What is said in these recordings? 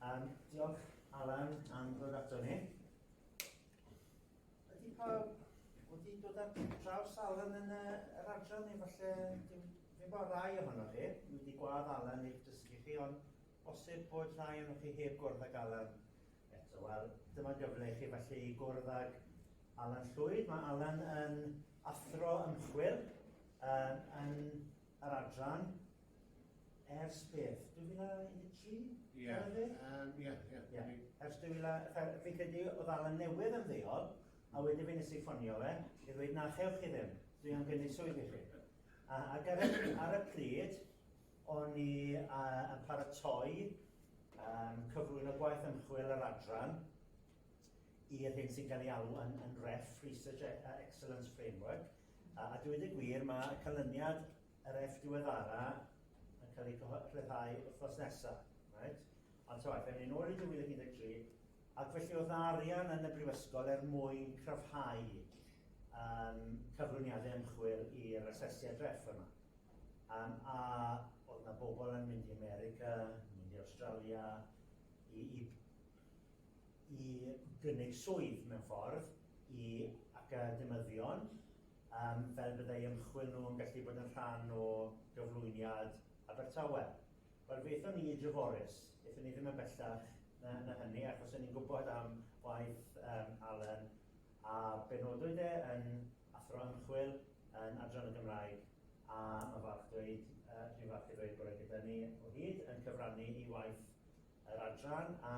Um, diolch Alan am ddod ato ni. Ydy pawb wedi dod ar draws Alan yn y, yr adran neu falle dim, dim bod rai ohonoch chi, ni wedi gwad Alan i'ch dysgu chi, ond bosib bod rhai ohonoch chi heb gwrdd ag Alan eto. Wel, dyma gyfle i chi falle i gwrdd ag Alan Llwyd. Mae Alan yn athro ymchwil um, yn Yr adran, ers beth, 2013? Ie, yeah. um, ie, yeah, ie. Yeah. Yeah. Ers 2000, fi'n credu oedd Alan newydd yn ddeol, a wedyn fi'n nes i ffonio fe, i ddweud na chewch chi ddim, dwi am gynnu swydd i chi. A, ac ar, ar y pryd, o'n i uh, yn paratoi um, cyflwyn o gwaith ymchwil yr adran i'r hyn sy'n cael ei alw yn, yn REF, Research e- Excellence Framework, A dweud y gwir, mae canlyniad yr F diweddara yn cael ei rhyddhau wythnos nesaf. Right? Ond ta waeth, ewn ni nôl i 2013, ac felly oedd arian yn y brifysgol er mwyn cryfhau um, cyflwyniadau ymchwil i'r asesiad ref yma. Um, a oedd yna bobl yn mynd i America, mynd i Australia, i, i i gynnig swydd, mewn ffordd, i academyddion, yym, fel byddai ymchwil nhw yn gallu bod yn rhan o gyflwyniad Abertawe. Wel, fe aethon ni i Dreforys, aethon ni ddim yn bellach na, na hynny, achos o'n ni'n gwybod am waith um, Alan, a benodwyd e yn athro ymchwil yn Adran y Gymraeg, a mae falch dweud, uh, dwi'n falch i ddweud bod e gyda ni o hyd yn cyfrannu i waith Yr adran A,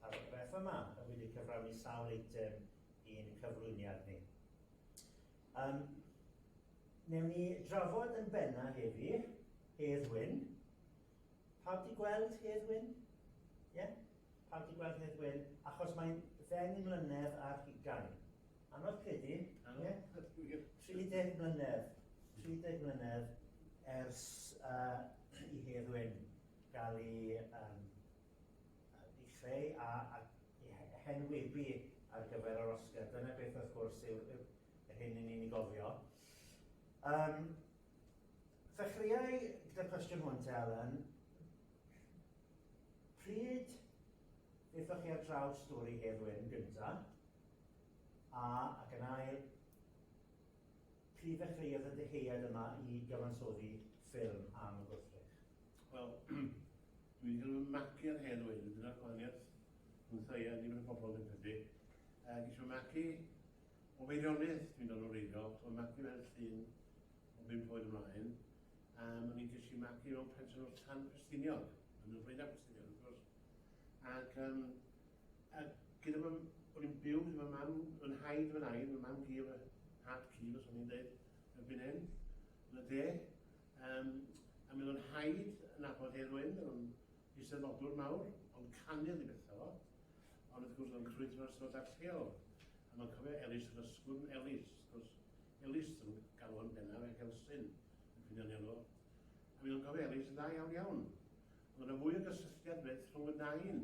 paragraff yma, y wedi cyflawni sawl eitem i'n cyflwyniad ni. Um, newn ni drafod yn benna heddi, Hedd Wyn. Pawb di gweld Hedd Wyn? Ie? Yeah? Pawb di gweld Hedd Wyn? Achos mae'n ddeng mlynedd ar hugain. Anodd credu, ie? 30 mlynedd. 30 mlynedd ers uh, i Hedd Wyn gael ei chreu a henwebu ar gyfer yr Oscar. Dyna beth wrth gwrs yw'r hyn i ni'n ei gofio. Um, Ddechreuai gyda'r cwestiwn hwn te, Alan. Pryd ddeithoch chi ar draws stori Hedd Wyn gyntaf? A, ac yn ail, Pryd ddechreuodd y dyhead yma i gyfansoddi ffilm am y gwrthrych? Wel, dwi 'di cael fy magu ar hen oed, a dyna'r gwahaniaeth rhwngtha i a nifer y bobl dwi'n credu. Yy, ges i fy magu o Feirionnydd, dwi'n dod o wreiddiol, so fy magu fel llun o bump oed ymlaen, a ma' ni ges i magu mewn pensiwn o'r Llan Ffestiniog, yn y Flaenau Ffestiniog wrth gwrs. Ac yym, A gyda fy... o'n i'n byw gyda fy mam, fy nhaid, fy nain, fy mam-gu a fy nhad-cu, fel o'n i'n dweud, yn fan hyn, yn y de. Um, a mi oedd o'n haid yn nabod Hedd Wyn, oedd o'n eisteddfodwr mawr, ond canu oedd ei beth o. Ond wrth gwrs oedd o'n crwydro ar sefydliad lleol. A mae'n cofio Elis yr Ysgwrn Elis, wrth gwrs, Elis yn galw yn bennaf ac Elsyn yn cynio'n elw. A mi oedd o'n cofio Elis yn dda iawn iawn. Ond yna fwy o gysylltiad beth rhwng y nain.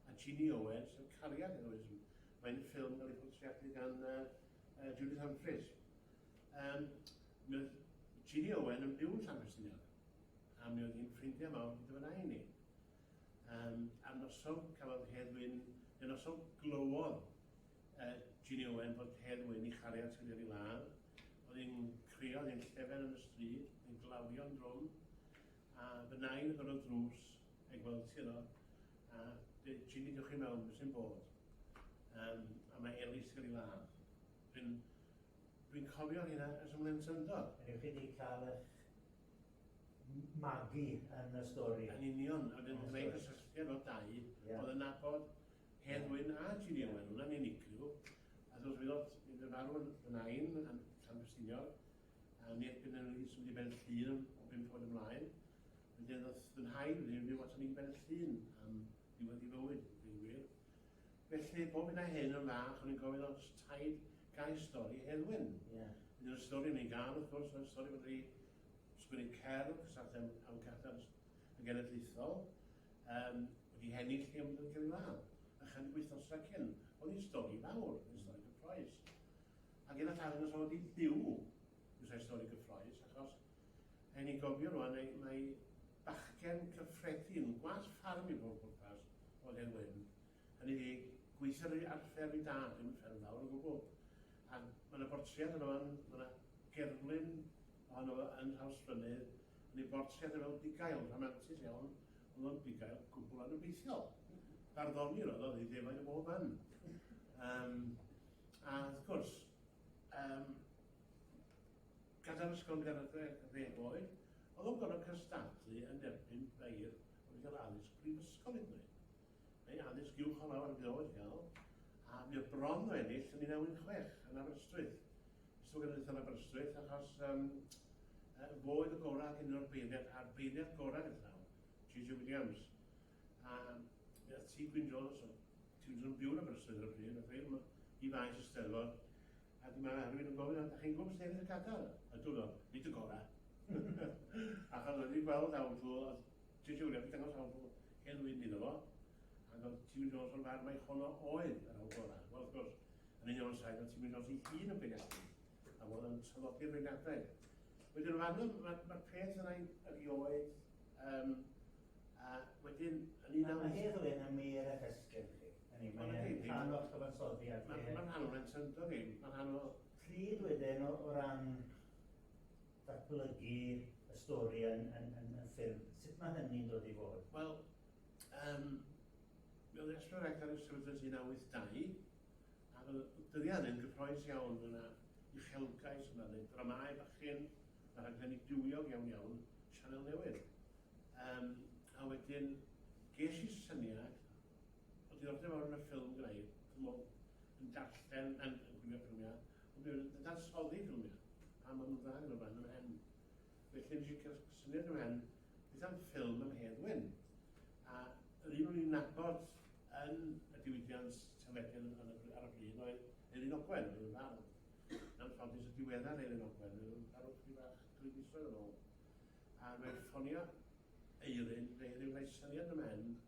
a Jeannie Owen, sef cariad Heroism. Mae'n ffilm gael ei phortreadu gan uh, Judith Humphreys. Um, mi oedd Jeannie Owen yn byw yn Llanfestiniog, a mi oedd hi'n ffrindiau mawr gyda fyna i ni. Um, a noson cafodd Heddwyn, neu noson glywodd uh, Jeannie Owen bod Heddwyn i chariad sy'n ei ladd. Oedd hi'n crio, oedd hi'n llefen yn y stryd, oedd hi'n glawio'n drwm, a fy nain yn gorfod drws I gweld ti yno. A be, cyn i dewch i mewn, be sy'n bod? Um, a mae Elis wedi cael ei ladd. Dwi'n... Dwi'n cofio hynna ers ymlaen syndod. Rydych chi wedi cael eich magu yn y stori. Yn union, a wedyn gwneud cysylltiad o dau, yeah. oedd yn nabod Hen Wyn a Gini Owen, hwnna'n unigryw. A dwi'n meddwl, mi fydd farw yn y nain, yn Llanfestiniog, a mi erbyn yn wedi symud i ben llun o bum ffordd ymlaen. Fe ddedodd fy nhaid wrthyf fyw aton ni i Ben y Llyn am ddiwedd ei fywyd, yn deud gwir. Felly, bob hyn a hyn yn fach, o'n i'n gofyn os taid gaeth stori Heddwyn. Ie. Wedyn y stori o'n i'n gael, wrth gwrs, oedd stori fod wedi sgwennu cerdd, Cysathem am Gadar y Genedlaethol, um, wedi hennill i ymwneud gyda'i law. A chydig wythnosau cyn, oedd hi'n stori fawr, yn stori gyffroes. Ac yn y llawn yn y sôn wedi ddiw, yw'r stori gyffroes, achos Rhaid ni gofio rwan mai mai bachgen cyffredin, gwallt ffarm i bob pwrpas, oedd Hen Wyn. Hynny ydi, gweithiodd ei arfer ei dad, ddim yn ffermwr o gwbl. A ma' 'na bortread ohono fo'n, ma' 'na gerflun ohono fo yn Nhrawsfynydd, yn ei bortread e fel bugail, rhamantus iawn, o'dd o'n bugail gwbwl anobeithiol. Barddonir o'dd o, o'dd 'i ddefaid o bob man. Yym a wrth gwrs, yym, Gadael ysgol gartref y fe oedd, oedd o'n gorfod cystadlu yn erbyn beirdd oedd yn cael addysg brifysgol hyd yn oed. Neu addysg uwch o lawer fe oedd gael, a mi oedd bron o ennill yn 1916 yn Aberystwyth. Ysgol Genedlaethol yn Aberystwyth, achos um, fo oedd y gorau ac un o'r beirniad a'r beirniad gorau yn llawn, J.J. Williams. A mi oedd T. Gwyn Jones, T. Gwyn Jones yn byw yn Aberystwyth ar y pryd, a fe i faes y steddfod, A dyma rhywun yn gofyn, a dach chi'n gwybod beth sy'n ennill y Qatar? A dwi'n meddwl, nid y gorau. Ac oedd wedi gweld awdl, a ti'n siŵr, wedi dangos awdl hen wyn iddo fo, ac oedd Timmy Jones o'r farn mai honno oedd yr awdl gorau. Wel, wrth gwrs, yn union o'r saith, oedd Timmy Jones ei hun yn bregethyn, a fod yn traddodi'r regadau. Wedyn, o fanno, mae'r ma peth yna erioed, um, a wedyn, yn un am... Mae hedd o hyn am ei er ffesgyn chi. Hynny yw, mae e'n rhan o'ch cyfansoddiad chi. Mae'n rhan o'n agenda ni. Mae'n rhan o... Pryd wedyn o ran datblygu y stori yn ffilm, sut mae hynny'n dod i fod? Wel, um, mi oedd Estro Rector yn sefydlu 1982, a fel dyddiad yn gyffroes iawn, mae yna uchelgais, mae yna dramau bachyn, mae rhaglenni bywiog iawn iawn, sianel newydd. Um, a wedyn, ges i syniad O'dd diddordeb mawr yn y ffilm gyda i, ch'mo' o'dd yn darllen yn yn gwylio ffilmia, ond hefyd yn dadansoddi ffilmia, a ma' nw'n dda gyda'r band yn y pen. Felly nes i ca'l syniad yn y pen beth am ffilm am Hedd Wyn, a yr un o'n i'n nabod yn y diwydiant teledu yn yn y ar y pryd oedd Eileen Ogwen, oedd yn fardd. Yn anffodus y diweddar Eileen Ogwen, oedd yn farw chydig bach dwy fisoedd yn ôl. A mae'n ffonio Eirin, neu ryw roi syniad yn y pen,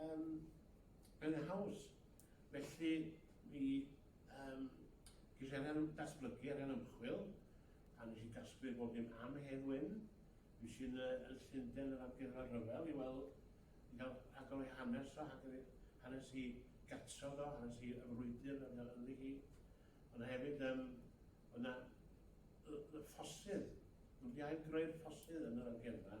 Yym, yn y Haws. Felly, mi yym, ges i arian am datblygu, arian ymchwil, a nes i gasglu'r bob dim am Hedd Wyn. Mi sy'n yn y Llundain yr Amgueddfa Rhyfel i weld, i gael agor ei hanes o, hanes i gatref o, hanes i y frwydr oedd o ynddi hi. Ond hefyd, yym, oedd yna y, y ffosydd. Nhw wedi ail greu'r ffosydd yn yr amgueddfa.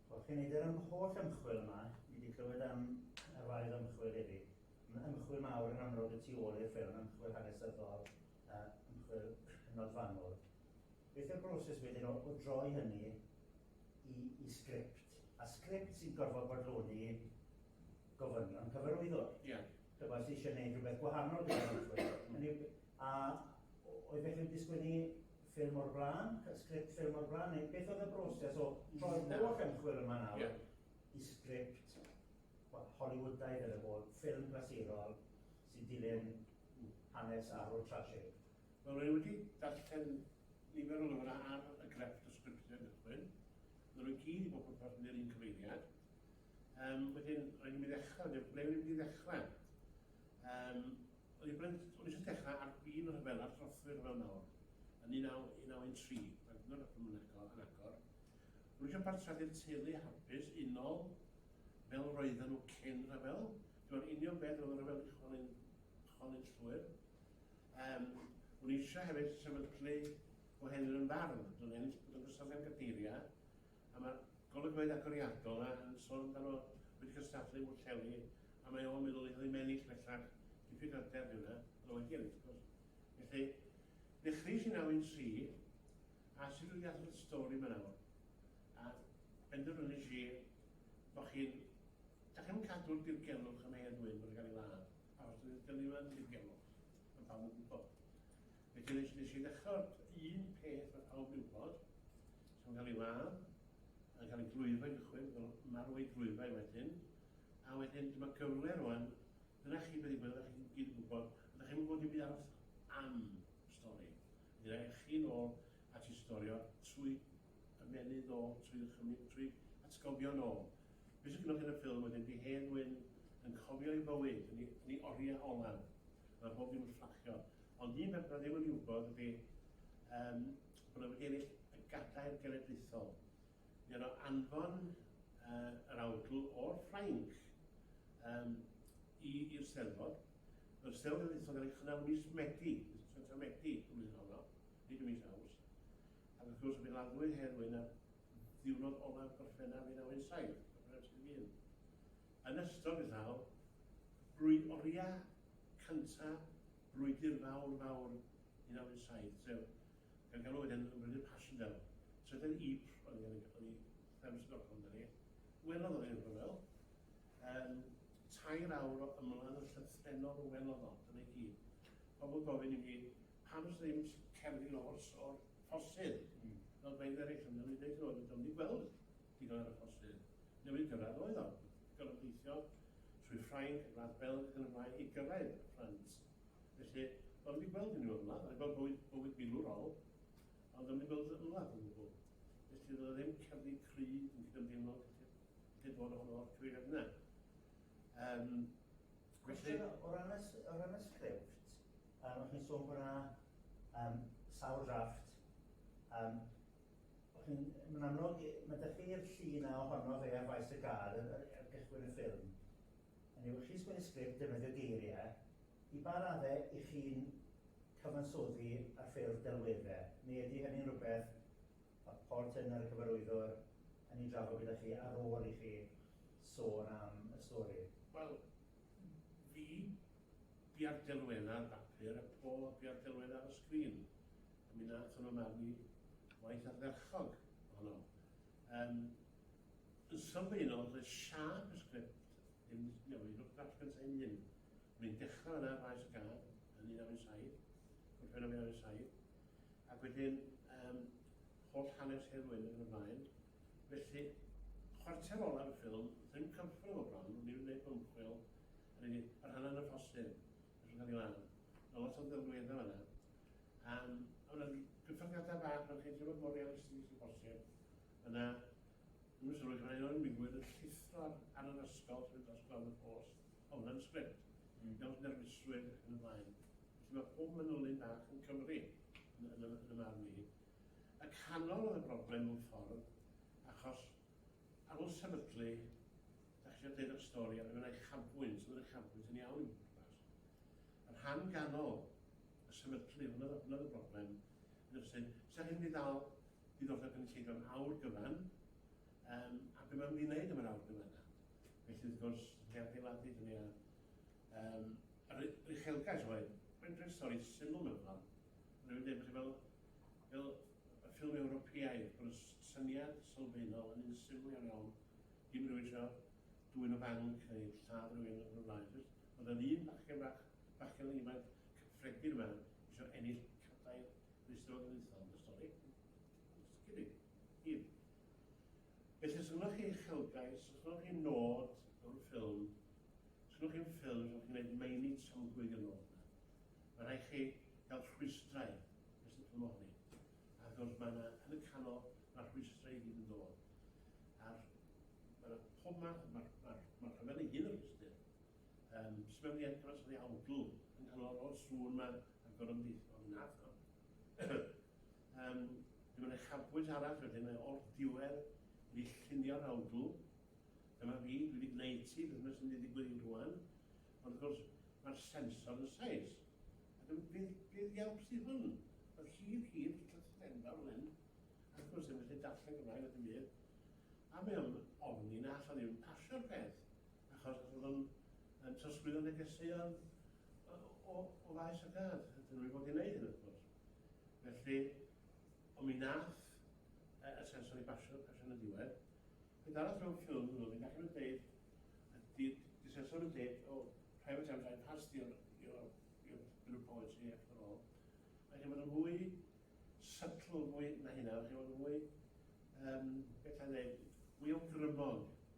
Wrth i ni dynnu am yr holl ymchwil yma, ni wedi clywed am radd ymchwil hefyd. Mae ymchwil mawr yn amlwg y tu ôl i'r ffilm, ymchwil hanesyddol, ymchwil hynod fanwl. Beth yw'r broses wedyn o, o droi hynny i, i sgript? A sgript sy'n gorfod bodloni gofynion cyfarwyddwr. Ie. Yeah. Dyma sy'n eisiau gwneud rhywbeth gwahanol gyda'r ymchwil. a oedd felly'n disgwyl ni Fferm o'r Blaen, sgript Fferm o'r Blaen, neu beth oedd y broses o troi'r holl ymchwil yma nawr yeah. i sgript well, Hollywoodaidd yn y bol, ffilm glasurol sy'n dilyn hanes arwr trasig? Wel, rwy'n wedi darllen nifer o lyfrau ar y grefft o sgriptiau gychwyn. Rwy'n nhw'n gyd i bod yn parhau i'r un cyfeiriad. Um, wedyn, rwy'n mynd i ddechrau, ble rwy'n mynd i ddechrau? Um, O'n i'n bryn, o'n i jyst dechra ar fin y rhyfel a'r trothwy rhyfel mawr yn 1913, mae'n hyd yn oed yn agor, yn agor. O'n i eisiau partreadu'r teulu hapus, unol, fel roedden nhw cyn rhyfel. Dwi'n union beth roedd y rhyfel wedi chwalu'n, chwalu'n llwyr. Um, o'n i eisiau hefyd sefydlu o hen yn fardd, dwi'n ennill bod yn gysoddiad gadeiriau, A mae'r golygfeydd agoriadol 'na yn sôn amdano fo wedi cystadlu i Bwllheli a mae o'n meddwl ei fod hi'n ennill bellach, diffyg hyder ydy hwnna, ond wedi ennill wrth gwrs. Felly, dechreuais i naw un tri, a sut dwi 'di atal y stori 'ma nawr? A benderfynais i bo' chi'n, dach chi'm yn cadw'r dirgelwch am hen ŵyn bod yn cael ei ladd, achos dydi'r dynion 'na ddim yn dirgelwch, ma' pawb yn gwybod. Felly nes, nes i ddechrau'r un peth mae pawb yn gwybod, sy'n cael ei ladd, yn cael ei glwyfau yn cychwyn, fel marw ei glwyfau wedyn, a wedyn dyma gyfle rwan, dyna chi beth i gwybod, ydych chi'n gyd yn gwybod, ydych chi'n gwybod dim byd aros am stori. Dyna eich chi'n ôl at i storio trwy ymennydd ôl, trwy ddychymyg, trwy atgofion ôl. Beth sy'n gynnwch yn y ffilm wedyn, di hen wyn yn cofio ei fywyd, yn ei, yn ei oriau olaf. Mae bob dim yn fflachio, Ond un peth na ddim yn ei wybod ydy yym bod o wedi ennill y gadair genedlaethol. Mi oedd o anfon yy yr awdl o'r Ffrainc yym i i'r Steddfod. Mae'r Steddfod genedlaethol yn cael ei chynnal ym mis Medi, mis Tachwedd Medi y flwyddyn honno, nid ym mis Awst. Ac wrth gwrs mi laddwyd Hedd Wyn ar ddiwrnod olaf Gorffennaf 1917. Yn ystod beth aw, drwy oriau Cynta, brwydr fawr fawr 1917, sef, gan galw wedyn yn brwydr Passchendaele. Trydedd Ypres oedd hyn, oedd hi Thames Stockholm amdani. Welodd o i'r rhyfel. Yym, tair awr o ymladd yn llythrennol welodd o, dyna i gyd. Pobl yn gofyn i mi, pam does 'na ddim cerddi lofr o'r ffosydd? Fel rhai eraill yn dweud, o'n i'n dweud, 'do'n i 'di gweld Digon ar y postyn. Newid gyrraedd oedd o. Gorfod gweithio trwy Ffrainc, Gwlad Belg ac yn y blaen i gyrraedd Ffrans. Felly, do'n wedi gweld unrhyw ymladd, rhaid bod bywyd, bywyd milwrol, ond do'n wedi gweld ymladd yn gwbl. Felly, roedd ddim cerddi cry yn cydymdeimlo gallu bod ohono'r cyfeiriad yna. Um, felly... O ran y, o ran y sgript, um, o'ch chi'n sôn bod yna um, sawl drafft, um, Yn amlwg, mae 'da chi'r llu 'na ohono fe ar faes y gad ar ar gychwyn y ffilm. Hynny yw, chi'n sgwennu sgript, defnyddio geiriau, i ba raddau 'y chi'n cyfansoddi ar ffurf delweddau, neu ydy hynny'n rhywbeth ma' Paul Turner, y cyfarwyddwr, yn ei drafod gyda chi ar ôl i chi sôn am y stori? Wel, fi bia'r delweddau ar bapur a Paul bia'r delweddau ar y sgrin. A mi nathon nhw magu waith ardderchog ohono. Yym, yn sylfaenol, doedd siâp y sgript ddim wedi newid o'r drafft gyntaf ei hun. O'n i'n dechrau yna ar faes y gad yn 1997, Gorffennaf 1997, ac wedyn um, holl hanes Hedd Wyn ac yn y blaen. Felly, chwarter olaf y ffilm, ddim cyfrif o bron, o'n i'n gwneud bymchwil, a rydyn ni, yr hanner yn y ffosyn, yn cael ei lan. Mae lot o ddelweddau yna. Am fod y cyfyngiadau bach yn rhaid i fod mor realistig â phosib, yna dwi'n sylwi gan aelod yn digwydd yn llithro ar yr ysgol sydd dros glan y post, o hwnna'n sgript, fel nerfusrwydd ac yn y blaen. Felly mae pob manylyn bach yn Cymru, yn, yn, yn y marn i. Y canol oedd y broblem mewn ffordd, achos ar ôl sefydlu, da chi eisiau dweud eich stori, a wedyn mae'n uchafbwynt, mae'n uchafbwynt yn iawn i'n pwrpas. Y rhan ganol, a sefydlu, hwnna oedd y, hwnna oedd y broblem, yn yr ysyn. Sa'n hyn i ddal diddordeb yn y cynulleidfa'n awr gyfan, um, a beth mae'n mynd i wneud am yr awr gyfan yna. Felly, wrth gwrs, ni adeiladu hynny ar um, yr uchelgais oedd, mae'n rhaid stori syml mewn ffordd. Mae'n rhaid dweud, fel, fel y ffilm Ewropeaidd, bod y syniad sylfaenol yn un syml iawn iawn, dim rhywun eisiau dwy'n y banc neu lladd rhywun yn y blaen. Oedd yn un bachgen bach Bachgen ifanc cyffredin yma isio ennill cadair rhwystro genedlaethol yn y stori. Os gei di. Hir. Felly os ynnoch chi uchelgais, os ynnoch chi nod mewn ffilm, os ynnoch chi'n ffilm, os ynnoch chi'n gwneud meini tramgwydd yn ôl yna, mae rhaid chi gael rhwystrau nes y ffilm ohoni. A wrth gwrs mae yna, yn y canol, mae'r rhwystrau i gyd yn dod. A'r, mae yna pob math, mae'r ma, ma rhyfel ei hun yn rhwystr. Yym, sut mae wedi edrych ar ei awdl yng nghanol o'r sŵn ma a gorymdeithiol oedd yn arth o. Yym, dyma na chafbwynt arall wedyn, mae o'r diwedd wedi llunio'r awdl. Dyma fi, dwi wedi gwneud ti, beth mae sy'n mynd i ddigwydd i rwan. Ond wrth gwrs, mae'r sensor yn saes. A dyma, beth, beth iawn sydd hwn? Oedd hir, hir, wedi cael sydd enfawr fan hyn. Ac wrth gwrs, ddim yn lle darllen Gymraeg, oedd yn wir. A mae o'n ofni na allai ddim pasio'r peth. Achos bod yn yn trosglwyddo negeseuon o, o faes y gad. Dyn nhw wedi bod i'n neud hyn, wrth gwrs. Felly, ond mi nath y sensor i basio, pasio yn y diwedd. Beth arall mewn ffilm hwnnw, fi'n gallu mynd dweud, ydy, di sensor yn dweud, o, private times I passed your, your, your bill of policy after all. Mae chi'n bod yn fwy sytl, fwy na hynna, mae chi'n bod yn fwy, um, beth a'n dweud, fwy o grymog.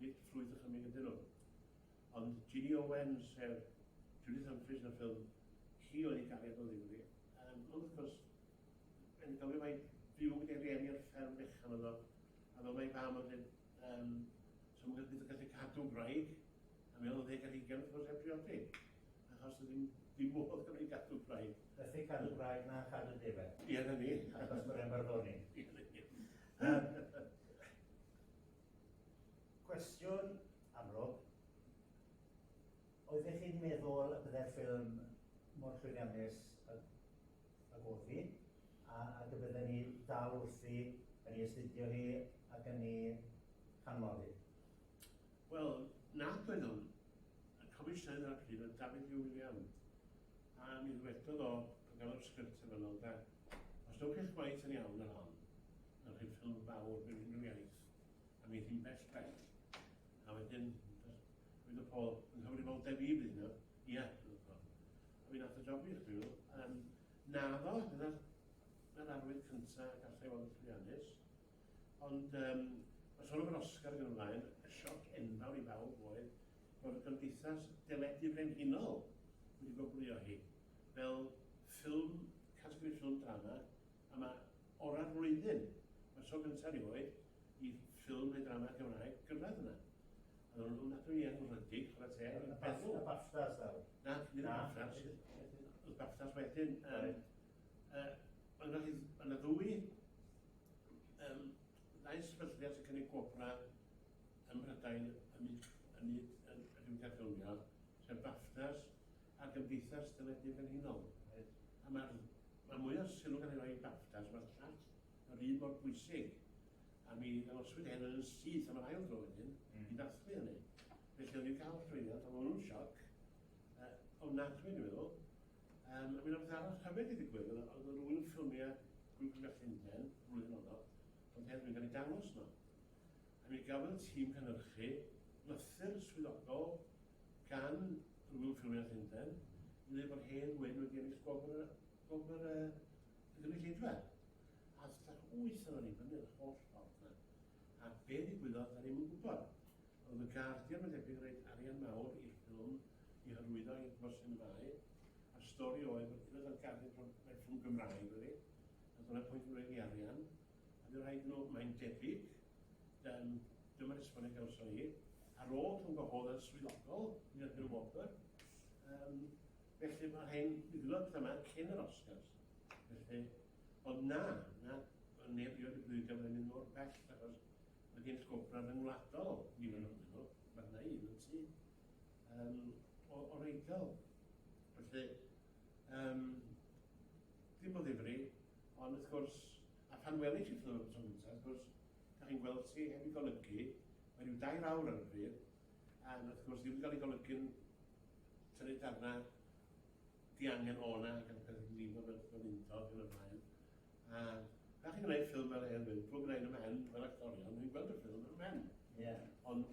Nid ffrwyth a chymig ydyn nhw. Ond Ginny Owen, sef Judith Humphries yn y ffilm, hi oedd ei gariad o ddifri. Yym, ond wrth gwrs, yn gofio mai byw gyda'i rieni ar fferm fechan oedd o, a fel mae fam yn dweud, um, so mae'n gallu gallu cadw gwraig, a mewn o ddeg ar hugain wrth gwrs heb briodi, achos ddim, dim modd gan ei gadw gwraig. Felly cadw gwraig na cadw defaid. Ie, na ni. Achos mae'r embargo ni. Ie, na ni. Cwestiwn, amlwg, Oeddech chi'n meddwl y byddai'r ffilm mor llwyddiannus ag, ag oedd hi, a, ac y bydden ni dal wrthi yn ei astudio hi ac yn ei chanmol hi? Wel, nad oeddwn. Y Comisiynydd ar y pryd oedd David Hugh William, a mi ddwedodd o, pan gafodd sgript y fanylder, Os dowch chi'ch gwaith yn iawn ar hon, yn rhyfel fawr mewn unrhyw iaith, a mi hi'n bell bell. A wedyn, dwi'n y pol, yn nghyfrifoldeb i fydd yno, ia, dwi'n y pol. A fi'n at y job i chi, um, na fo, dyna'r arwydd cyntaf gallai fod yn llwyddiannus. Ond, um, Mae sôn am yr Oscar yn ymlaen, y sioc enfawr i bawb oedd bod y gymdeithas deledu brenhinol wedi goglio hi fel ffilm, categori ffilm drama, A mae orau'r flwyddyn, mae'r tro gyntaf erioed i ffilm neu drama Cymraeg gyrraedd yna. A nhw'n nhw'n adw i enwredig, chwarae teg, yn feddwl. Y BAFTAs ddaw? Na, nid y BAFTAs. Y BAFTAs wedyn. Um, uh, ond yna, yna ddwy um, ddau sefydliad sy'n cynnig gwobra ym Mhrydain yn mynd yn y diwydiant ffilmio, sef BAFTAs a'r Gymdeithas Deledu Brenhinol, oherwydd pan mae'r rhan mwyaf o'r sylw gan ei roi i BAFTAs, mae'r llall yr un mor bwysig, a mi ddangoswyd hyn yn yn syth am yr ail dro wedyn, i ddathlu hynny. Felly o'n i'n cael llwyddiant, ond o'n nhw'n sioc, uh, ofnadwy dwi'n meddwl. Um, a mi yna beth arall hyfyd i ddigwydd, oedd yr wyl ffilmiau Grŵp Cymru Llundain, flwyddyn honno, ond hefyd yn cael ei dangos yno. Mi gaf y tîm cynhyrchu lythyr swyddogol gan Grŵp Ffilmiau Llundain i ddweud bod Hen Wyn wedi ennill gwobr y, gwobr y, y gynulleidfa. A ddechrau wyth ohono ni fyny yr holl ffordd na. A be ddigwyddodd, da ni'n gwybod. Ond y Guardian mae'n debyg roed arian mawr i'r ffilm i hyrwyddo i'r Mosin Fai, a'r stori oedd, unwaith oedd Guardian, mae ffilm Gymraeg wedi, a dyna pwynt yn roed i arian. A dweud nhw, mae'n debyg, dan, dyma'r esboniad gawson ni, ar ôl rhwng gwahoddodd swyddogol i'r Bill Whopper, um, felly mae hyn, mi ddylod pethau yma cyn yr Oscars. Felly, ond na, na, neb i oed y bwydio mae'n mynd o'r bell, achos mae gen sgwbraf yn wladol, ni fan o'n nhw, mae yna un yn tu, um, o, o reidol. Felly, um, ddim o ddifri, Ond wrth gwrs, a phan welish i Fleur am y tro gyntaf, wrth gwrs, dach chi'n gweld ti heb ei golygu, mae rhyw dair awr ar y pryd, a wrth gwrs ddim yn cael ei golygu'n tynnu darna diangen o'na ac yn cael ei lifo fel fel untog ac yn y blaen. A pan chi'n gwneud ffilm fel hyn, mae'n drwg gyda un y men, fel actorion, ni'n gweld y ffilm yn y men. Yeah. Ond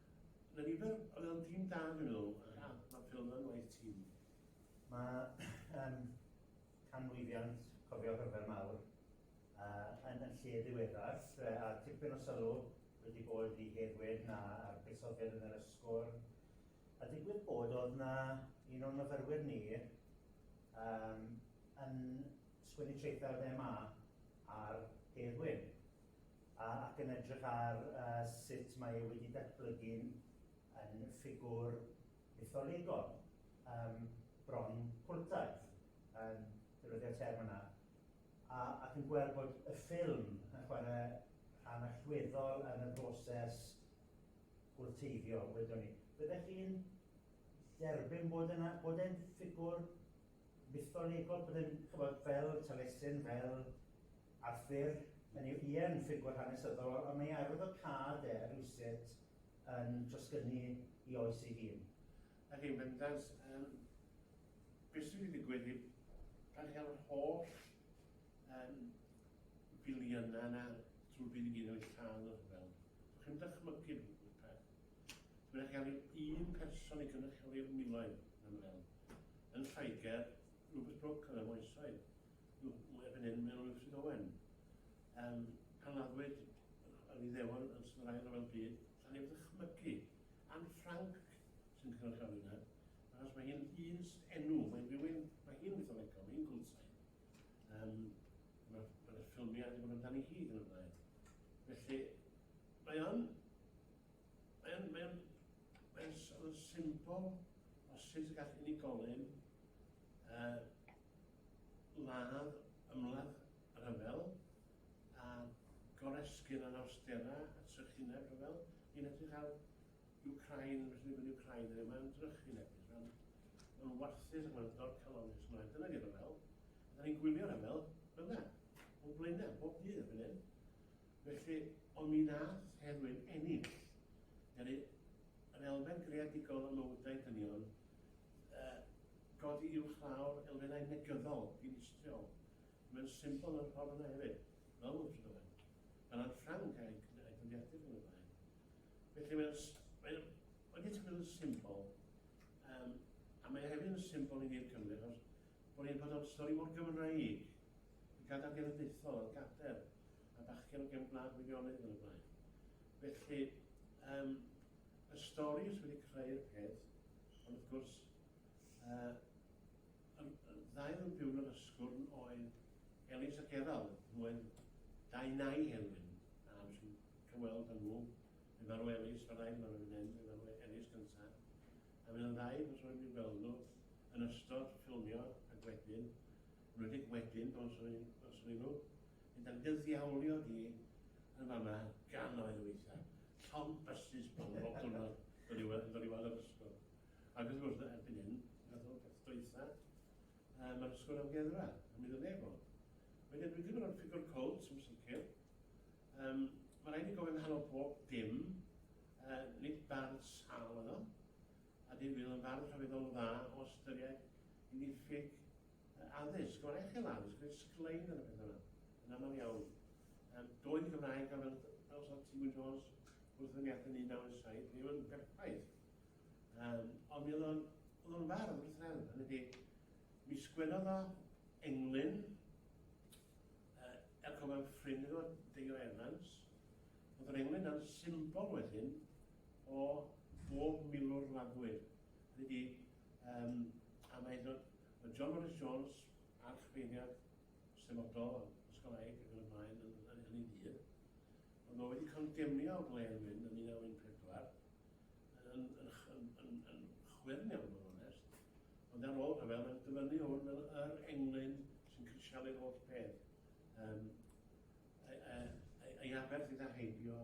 Mae 'na nifer o fel tîm da gynddyn nhw. Ia, mae Phil yn waith tîm. Mae um, canmlwyddiant cofio rhyfel mawr uh, yn, yn lle ddiweddar, a tipyn o sylw wedi bod i Heddwyn na a'r buddsoddiad yn yr ysgwr. A digwydd bod oedd na un o'n myfyrwyr ni um, yn sgwennu traethau o'r MA ar Heddwyn. ac yn edrych ar sut mae e wedi datblygu'n yn ffigwr mytholegol, yym, bron cwltaidd, yn defnyddio'r term yna, a, ac yn gweld bod y ffilm yn chwarae rhan allweddol yn y broses gwlteiddio, wedwn ni. Byddech chi'n dderbyn bod yna, bod e'n ffigwr mytholegol, bod e'n, ch'mod, fel Taliesin, fel Arthur, yn ei ie yn ffigwr hanesyddol, ond mae ei arwyddocâd e rywsut yn trosgynnu i oes ei hun. Ac yn bendant, yym, beth sy'n mynd i ddigwydd i pan chael yr holl yym, filiynau yna drwy fydd i gyd o'i lladd y rhyfel? Dych chi'n dychmygu rhywbeth peth? Dwi'n eich gael un person i gynrychioli'r miloedd yn ymwneud. Yn Lloegr, Rupert Brooke yn y moesoedd. Mae erbyn hyn mewn Ifrith Owen. Um, pan laddwyd yr Iddewon yn Sir Ail Ryfel Byd, lle ni'n ddychmygu Anne Frank sy'n cynrychioli yna, achos mae hi'n un enw, mae'n rhywun, mae hi'n mytholegol, mae'n gwlsau. Um, Mae'r ma ffilmiau wedi bod amdani hi yn y blaen. Felly, mae o'n... Mae o'n... Mae o'n... Mae o'n symbol o sut y gall unigolyn uh, ladd ymladd rhyfel a goresgyn anawsterau a trychineb rhyfel. Ni'n edrych ar Wcráin, felly ni'n gwneud Wcráin heddiw, mae'n drychinebus, mae'n ma warthus ac mae'n dorcalonnus, mae'n dyna di rhyfel. A da ni'n gwylio rhyfel, bydda, o'n blaenau, bob dydd erbyn hyn. Felly, ond mi nath Heddwyn ennill, yr elfen greadigol ym mywydau dynion, a godi uwchlaw'r elfennau negyddol dinistriol. Mae'n symbol o'r ffordd yna hefyd, fel y welwch chi fan fan, gan a'r Ffranc a'i dyddiadur yn y blaen. Felly mae'n, mae'n, wedi tynnu yn symbol, um, a mae hefyd yn symbol i ni'r Cymru, achos bod ni'n bod o'n stori mor Gymraeg, y gadael genedlaethol, y gadael, a bachgen o gen Gwlad Gwyddeonydd yn y blaen. Felly, um, Y stori sydd wedi creu'r peth, ond wrth gwrs, yy, y ddau oedd yn byw yn yr Ysgwrn oedd Elins a Gerald, nhw oedd dau nai Helwyn, a wnes i cyweld yn nhw, fe farw Elins fan hyn, farw fan hyn, fe farw Elins gyntaf, a fe oedd yn ddau, os rwy'n mynd gweld nhw, yn ystod ffilmio ac wedyn, Rwydig wedyn, dros roi dros rywun, mynd ar gyddiawlio hi yn fan 'na gannoedd o weithiau. Llond bysus bron bob diwrnod dod i weld dod i weld yr ysgol. Ac wrth gwrs, erbyn hyn, fath o beth dwytha, yy ma'r ysgol amgueddfa, a mi ddylia fo. Wedyn dwi ddim yn rhoi ffigwr cwlt yn sicr. Yym, ma' raid ni gofio nghanol pob dim, yy, nid bardd sâl oedd o, a difyr yn farn llefyddol dda o ystyried i ddiffyg addysg, o'r echel addysg, neu sglein yn y peth yna, yn aml iawn. Um, doedd y Gymraeg gan fel, fel Sir Tiwyn Jones wrth yn iath yn 1917, ddim yn berffaith. Um, ond mi oedd o'n, oedd o'n fardd yn Israel, hynny di, mi sgwennodd o englyn, uh, er cofio'n ffrind iddo, Deio Evans, oedd yr englyn yn symbol wedyn o bob milwr wladwyr ydi yym a mae do- ma' John Morris Jones a'r chyfeiriad sefydlol o'r Ysgol Aeg ac yn y blaen yn yn hynny dydd. Ond mae wedi condemnio Glen Wyn yn 1914 yn yn ch- yn yn yn chwyrn iawn mewn onest. Ond ar ôl rhyfel mae'n dyfynnu hwn fel yr englyn sy'n crisialu'r holl peth. Yym ei ei ei ei aberth idda heibio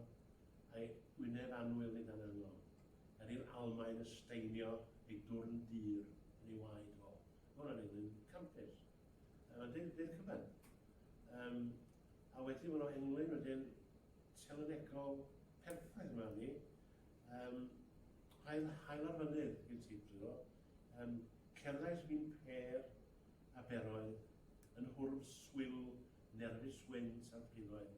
Mae Gwynedd annwyl fynd â'n angol. Er i'r Almaen ysteinio ei dwrn dur yn ei waed fo. Mae hwnna'n englyn campus. Yy mae'n deud deud cyfan. Yym a wedyn ma' 'na englyn wedyn telynegol perffaith yma arni. Yym hael hael ar fynydd gen ti dwi meddwl. Yym cerddais mi'n pêr a beroedd, yn hwrw swil nerfus wynt a phrifoedd.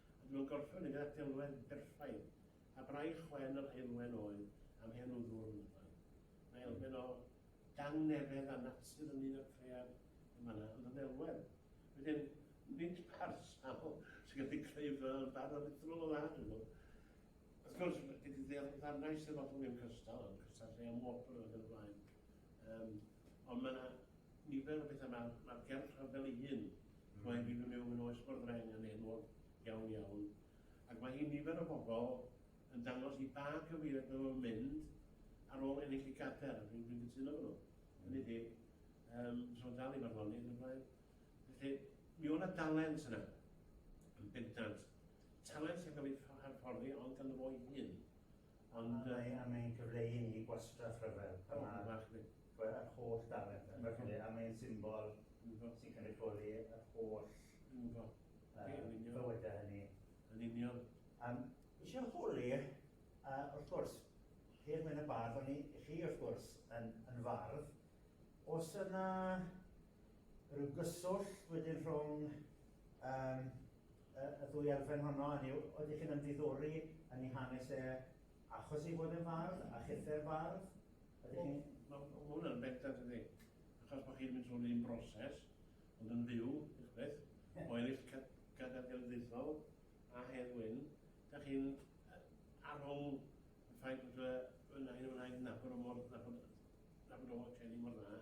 A dyma'n gorffen i gael delwedd berffaith, a braich wen yr heulwen oedd am hen wddwr Nyfan. Mae elfen o dangnefedd a natur ynglŷn â'r cread yn fan'na, ond yn ddelwedd. Wedyn, nid parhaol sy'n gallu creu fy barn aruthrol o dda, dwi'n meddwl. Wrth gwrs, gei di ddeall y ddarnau Eisteddfodol ddim cystal, ond cystal lle am wobr ac yn y blaen. Yym, ond mae 'na nifer o bethau, ma' ma'r gerdd rhyfel ei hun, rhoi fi fy miwn yn oes Bwrdd Reng yn enwog iawn iawn, ac mae hi'n nifer o bobl yn dangos i ba gyfeiriad maen nhw'n mynd ar ôl ennill y gader, a dwi'n dwi'n cytuno efo nhw. Hynny ydi, um, so dal i farddoni yn y blaen. Felly, mi o'na dalent yna, yn bendant. Talent sy'n cael ei hyfforddi ond gan y fo'i hun. Ond mae a mae'n cyfle i ni gwastraff rhyfel pan ma' ma' ch'mod yr holl dalent a ch'mod a mae'n symbol sy'n cynrychioli yr holl yy bywyde hynny. Yn union. Yym isie holi yy wrth gwrs Hedd Wyn y Bardd o'n i chi wrth gwrs yn yn fardd o's yna ryw gyswllt wedyn rhwng yym y ddwy elfen honno, hynny yw, oeddech chi'n ymddiddori yn ei hanes e achos ei fod yn fardd, a chithau'r fardd? Ydych chi'n... Wel, mae hwnna'n bendant yn ddi. Achos bod chi'n mynd trwy'r un broses, ond yn fyw, eich beth, o ennill cadair genedlaethol a Hedd Wyn, da chi'n arwng y ffaith bod y Wyn a hyn yn rhaid nabod o mor... nabod o Kelly mor dda,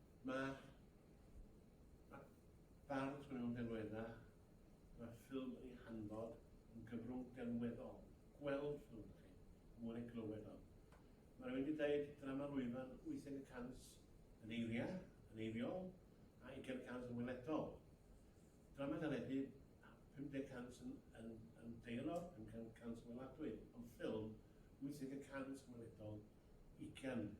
Mae Mae bardd mewn delweddau, mae ffilm ei hanfod yn gyfrwng delweddol, gweld ffilm da chi, mwy neu glywed o. Mae rhywun wedi dweud drama lwyfan 80 y cant yn eiriau, yn eiriol, a 20 y cant yn weledol. Drama deledu 50 y cant yn, yn, yn deialog, 50 y cant yn weladwy, ond ffilm 80 y cant yn weledol, 20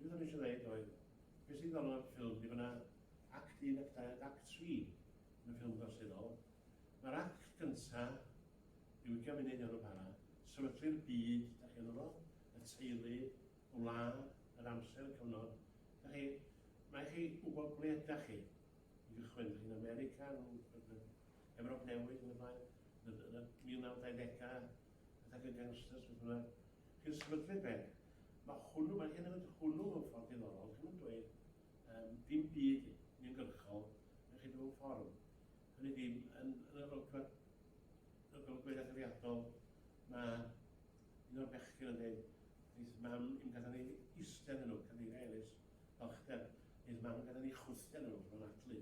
Beth o'n i eisiau ddeud oedd, beth sy'n ddiddorol o'r ffilm ydy bod yna act 1, act 2 ac act 3 yn y ffilm gorseddol. Mae'r act gyntaf, rhyw ugain munud neu rywbeth fel 'na, sefydlu'r byd da chi ynddo fo, y teulu, y wlad, yr amser, y cyfnod. Da chi, mae chi wybod ble ydach chi i gychwyn. Da chi'n America, yn Ewrop Newydd yn y blaen, yn y 1920au, Beth ac y gangsters beth bynnag. Chi'n sefydlu beth? Mae hwnnw, mae hyn yn mynd hwnnw mewn ffordd diddorol. Chi'n mynd dweud, um, dim byd ni'n gyrchol, yn chi mewn ffordd. Hynny di, yn, yn yr olygfa, yn yr olygfa etholiadol, mae un o'r bechgyn yn dweud, Neith mam i'n gadael ni eistedd yn nhw, cadeiria Elis, balchder. Neith mam yn gadael ni chwythiau yn nhw, mae'n adlu.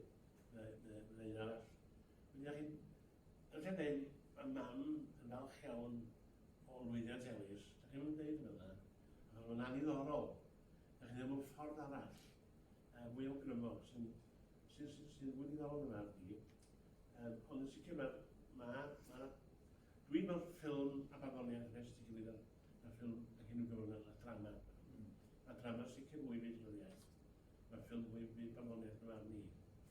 Mae'n un arall. Mae'n un arall. Yn lle deud ma mam yn falch iawn o lwyddiant Elis, dach chi'm yn deud hwnna na, achos mae'n anniddorol, dach chi'n deud mewn ffordd arall, yy mwy awgrymo, sy'n sy'n sy'n sy'n fwy diddorol yn ardd i, um, ond yn sicr mae, ma, ma, dwi'n mewn ffilm a barddoniaeth yn esti gilydd ar, ar ffilm a hyn yn gyfrwng a drama. Mm. Mae drama sicr mwy fyd llyfriaeth, mae ffilm mwy fyd barddoniaeth yn arni.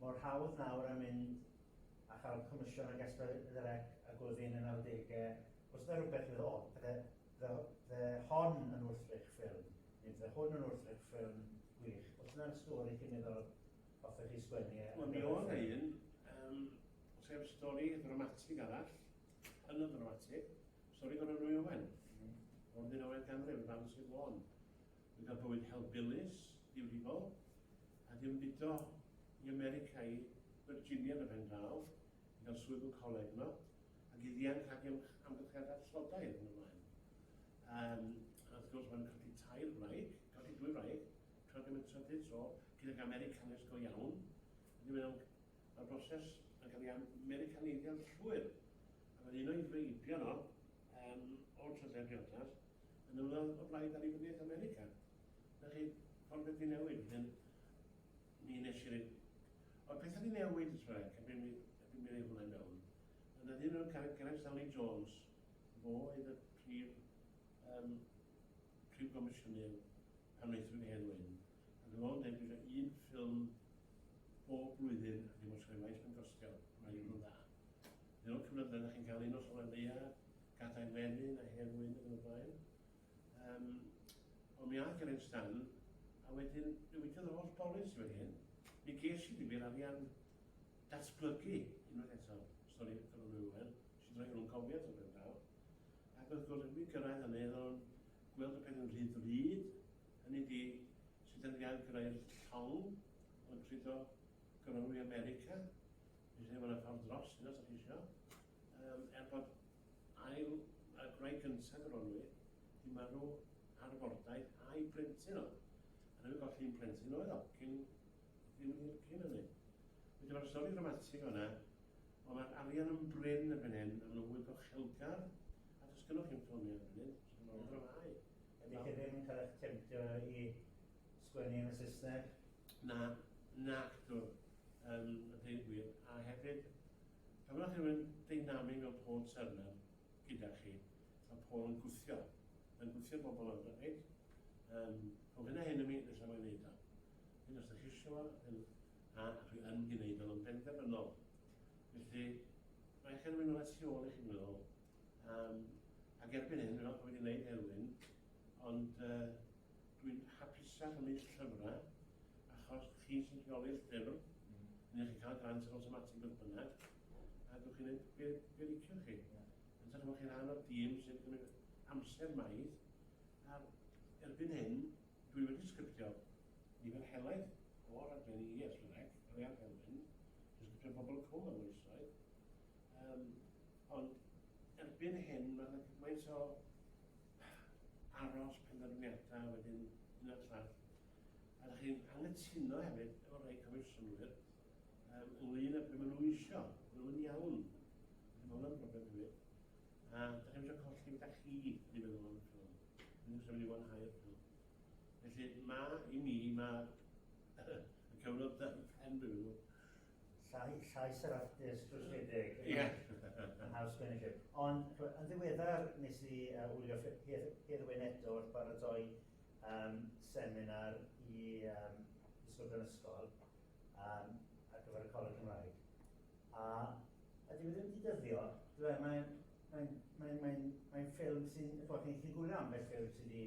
Mor hawdd nawr a mynd a chael comisiwn ag Esbydderec a Gwddyn yn Arddege, os na rhywbeth fydd o, fydde, fydde, fydde hon yn wrthrych ffilm, neu fydde hwn yn wrthrych ffilm gwych, os na'r stori chi'n meddwl hoffech chi sgwennu e. Wel mi oedd na un, yym, sef stori ddramatig arall, hynod ddramatig, stori Goron Nwy Owen, o'r ddeunawfed ganrif, yn dangos i Fôn. gyda bywyd helbulus, difrifol, a di ymbudo i America i Virginia yn y pen draw, i gael swydd mewn coleg yno, ac i ddianc rhag amgylchiadau tlodau yn ymlaen. Um, a wrth gwrs, mae'n colli tair wraig, colli dwy wraig, tra ddim yn trydydd tro, gydag Americanus go iawn. Ydy mae'n Mae'r broses yn cael ei Americaneiddio llwyr, a mae'n un o'i feibion o, um, o'r trydedd briodas, Yn ymweld o blaid Annibyniaeth America. Na chi, ffordd wedi newid, hyn, mi nes i rhaid. Ond pethau wedi newid y trac, a bum i rhaid hwnna mewn. Yna ddyn o'r carreg Gareth Stanley Jones, fo oedd y prif, um, prif gomisiynydd pan wnaethon ni hen wyn. A dyma o'n dweud, dwi'n eisiau un ffilm bob blwyddyn a ddim os rhaid mae'n gostio, mae'n un o'n dda. Dyna'r cyfnod yna, chi'n cael un os rhaid ddeia, Gadau Melin a Herwyn yn y blaen. Um, ond mi ath Geraint Stan, a wedyn newidiodd yr holl bolins i wedi hyn. Mi ges i ddim i'r arian datblygu unwaith eto, stori gyda nhw Iwan, sy'n rhoi nhw'n cofiad o'r ben draw. Ac wrth gwrs, mi gyrraedd yn eiddo o'n gweld y peth yn rhy ddrud, hynny di sydd yn gael gyrraedd llawn o'n cludo Gronwy America, mi rhaid fod yna ffordd dros hynna, sa'ch eisiau. Yym, er bod ail a gwraig gyntaf Gronwy 'di marw ar y bordaith a'i blentyn oedd. A ddim yn golli un plentyn oedd o, cyn, ddim hir cyn hynny. Felly mae'r stori dramatig o'na, ond mae'r arian yn brin erbyn hyn, a maen fwy gochelgar, a does gynnwch chi'n ffilmio erbyn hyn, does gynnwch chi'n dramau. Ydy chi ddim yn cael eich temtio i sgwennu yn y Saesneg? Na, na actor, um, y dweud gwir, a hefyd Pan mae rhywun deinamig fel Paul Turner gyda chi, mae Paul yn gwthio, mae'n gwthio bobl ynddo, reit? Um, rhwng hyn a hyn yn mi, felly mae'n gwneud o. Hyn os ydych chi eisiau fo, hyn, a chi yn gwneud o'n benderfynol. Felly, mae eich erwin o'n tu ôl i chi'n meddwl. Um, ac erbyn hyn, fel bod wedi gwneud erwin, ond uh, Dwi'n hapusach yn mynd llyfrau, achos chi sy'n rheoli'r llyfr, neu chi'n cael y grant yn awtomatig beth bynnag, a dwch chi'n gwneud be, be liciwch chi. Yn sicr bod chi'n rhan o'r dîm sy'n cymryd amser maith, a erbyn hyn, dwi wedi sgriptio nifer helaeth o raglenni i SREC, ar ei argelfyn, dwi'n sgriptio Pobol y Cwm am oesoedd, um, ond erbyn hyn mae yna gymaint o aros penderfyniadau wedyn hyn a llall. A dach chi'n anghytuno hefyd efo rhai comisiynwyr um, ynglyn â beth maen nhw eisiau, maen nhw'n iawn. Mae hwnna'n broblem hefyd. A dach chi'n eisiau colli beth â chi, ni'n meddwl am y ffilm. Ni'n eisiau mynd i wanhau'r ffilm. Felly, mae i mi, mae y cyfnod dan pen, dwi'n meddwl, Llais yr artist trwsgedig yn House Furniture. Ond yn ddiweddar nes i wylio Hedd Wyn eto wrth baratoi seminar i ddysgwyr fy ysgol ar gyfer y Coleg Cymraeg. A dyw e ddim wedi dyddio, dyw e, mae'n ffilm sy'n, chi'n gwylio ambell ffilm sydd wedi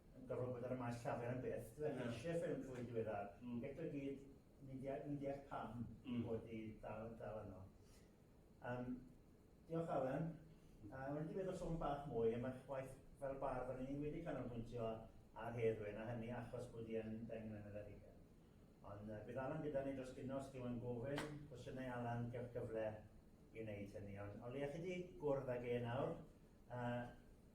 yn gorfod ar y maes llafur am byth. Dwi yeah. eisiau ffilm fwy diweddar. Mm. Eto i gyd, ni'n deall pam mm. bod i dal, dal yno. Um, diolch Alan. Mm. Uh, wedi meddwl sôn bach mwy am eich waith fel bardd, ond ni wedi canolbwyntio ar Heddwyn, a hynny achos bod i yn deng mlynedd ar hugen. Ond uh, bydd Alan gyda ni dros gynos, chi yn gofyn, cwestiynau Alan, gael cyfle i wneud hynny. Ond o leia chi wedi gwrdd ag e nawr, uh,